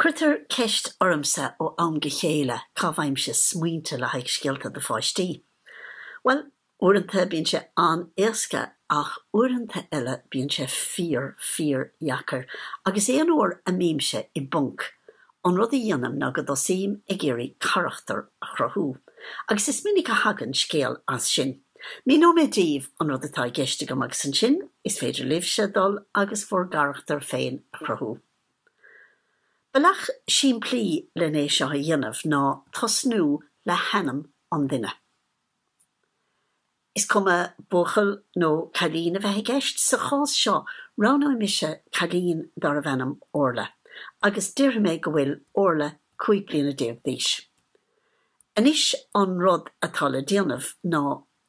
Cuirtear ceist ormsa ó am go chéile cá bhfaighimse smaointe le haghaidh scéalta do pháistí. Bhuel, uaireanta bíonn sé an-éasca ach uaireanta eile bíonn sé fíor, fíordheacair agus aon uair a mbímse i bponc, An rud a dhéanaim ná go dtosaím ag iarraidh carachtar a chruthú, agus is minic a thagann scéal as sin. Míneoidh mé daoibh an rud atá i gceist agam agus ansin is féidir libhse dul agus bhur gcarachtar féin a chruthú. Bealach simplí le hé seo a dhéanamh ná tosnú le hainm an duine. Is cuma buachaill nó cailín a bheith i gceist, sa chás seo roghnóidh mise cailín darb ainm Orla agus déarfaidh mé go bhfuil Orla cúig bliana déag d'aois. Anois an rud atá le déanamh ná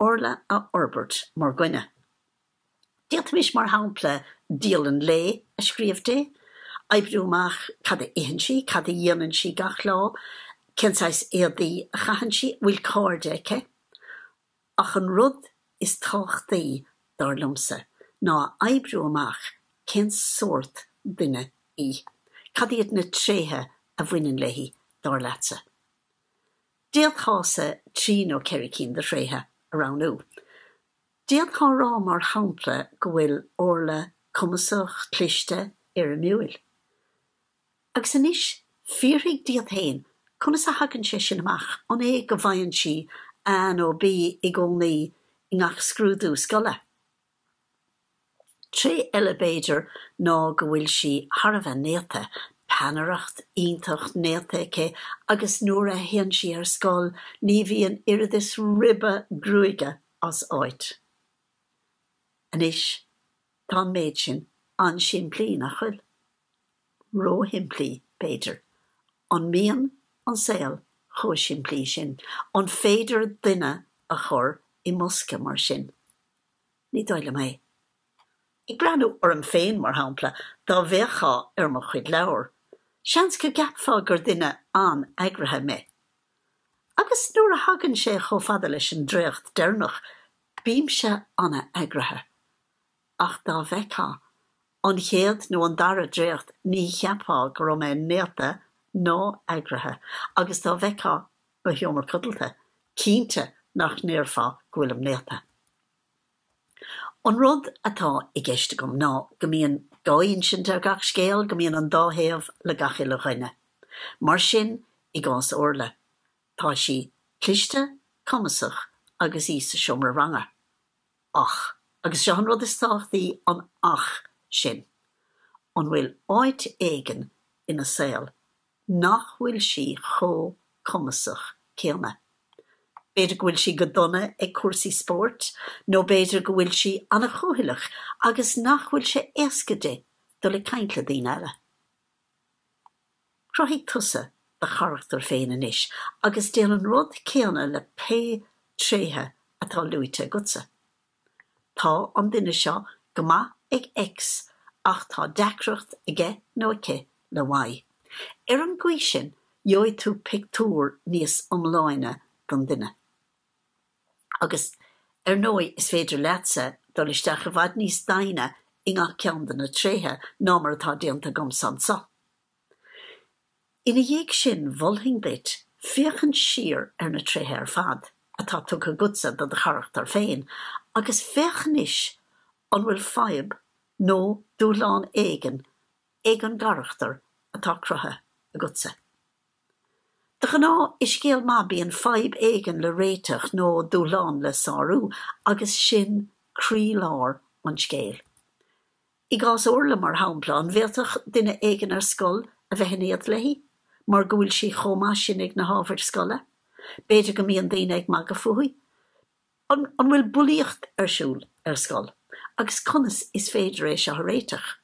Orla a fhorbairt mar dhuine. D'fhéadfaimis, mar shampla, dialann lae a scríobh di, oibriú amach cad a itheann sí, cad a dhéanann sí gach lá, cén saghas éadaí a chaitheann sí, an bhfuil cairde aici. Ach an rud is tábhachtaí, dar liomsa, ná a oibriú amach cén sórt duine í. Cad iad na tréithe a bhaineann léi, dar leatsa? D'fhéadfása trí nó ceithre cinn de thréithe a roghnú. D'fhéadfá rá, mar shampla, go bhfuil Orla cumasach, cliste, ardmheabhrúil. Agus anois, fiafraigh díot féin, conas a thagann sé sin amach? An é go bhfaigheann sí A nó B i gcónaí i ngach scrúdú scoile? Tréith eile b'fhéidir ná go bhfuil sí thar a bheith néata, peannaireacht iontach néata aici agus nuair a théann sí ar scoil ní bhíonn oiread is ribe gruaige as áit. Anois, tá an méid sin an-simplí, nach bhfuil? Ró-shimplí, b'fhéidir. An mbíonn an saol chomh simplí sin? An féidir duine a chur i mbosca mar sin? Ní dóigh liom é. Ag breathnú orm féin, mar shampla, dá bhféachfá ar mo chuid leabhar, seans go gceapfá gur duine an-eagraithe mé. Agus nuair a thagann sé chomh fada leis an dréacht deireanach, bímse an-eagraithe. Ach dá bhfeictheá an chéad nó an dara dréacht ní cheapfá go raibh mé néata nó eagraithe, agus dá bhfeictheá mo sheomra codlata, cinnte nach ndéarfá go bhfuilim néata. An rud atá i gceist agam ná go mbíonn dá insint ar gach scéal, go mbíonn an dá thaobh le gach uile dhuine. Mar sin, i gcás Orla, tá sí cliste, cumasach agus í sa seomra ranga. Ach, agus seo an rud is tábhachtaí, an 'ach' sin. An bhfuil áit éigin ina saol nach bhfuil sí chomh cumasach céanna. B'fhéidir go bhfuil sí go dona ag cúrsaí spóirt nó b'fhéidir go bhfuil sí an-chúthaileach agus nach bhfuil sé éasca di dul ag caint le daoine eile. Cruthaigh tusa do charachtar féin anois agus déan an rud céanna le pé tréithe atá luaite agatsa. Tá an duine seo go maith ag X ach tá deacracht aige nó aici le Y. Ar an gcaoi sin, gheobhaidh tú pictiúr níos iomláine den duine. Agus, ar ndóigh, is féidir leatsa dul isteach i bhfad níos doimhne i ngach ceann de na tréithe ná mar atá déanta agamsa anseo. Ina dhiaidh sin, mholfainn duit féachaint siar ar na tréithe ar fad atá tugtha agatsa do do charachtar féin agus féach anois an bhfuil fadhb nó dúshlán éigin ag an gcarachtar atá cruthaithe agatsa. De ghnáth, i scéal maith bíonn fadhb éigin le réiteach nó dúshlán le sárú agus sin croílár an scéil. I gcás Orla, mar shampla, an bhféadfadh duine éigin ar scoil a bheith in éad léi mar go bhfuil sí chomh maith sin ag na hábhair scoile? B'fhéidir go mbíonn daoine ag magadh fúithi. An bhfuil bulaíocht ar siúl ar scoil agus conas is féidir é seo a réiteach?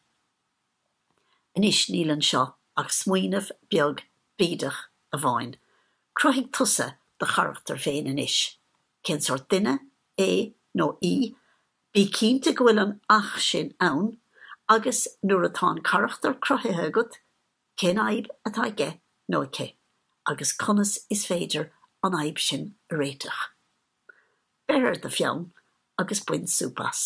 Anois, níl anseo ach smaoineamh beag bídeach amháin. Cruthaigh tusa do charachtar féin anois. Cén sórt duine é nó í? Bí cinnte go bhfuil an 'ach' sin ann agus nuair atá an carachtar cruthaithe agat, cén fhadhb atá aige nó aici agus conas is féidir an fhadhb sin a réiteach? Beir ar do pheann agus bain súp as.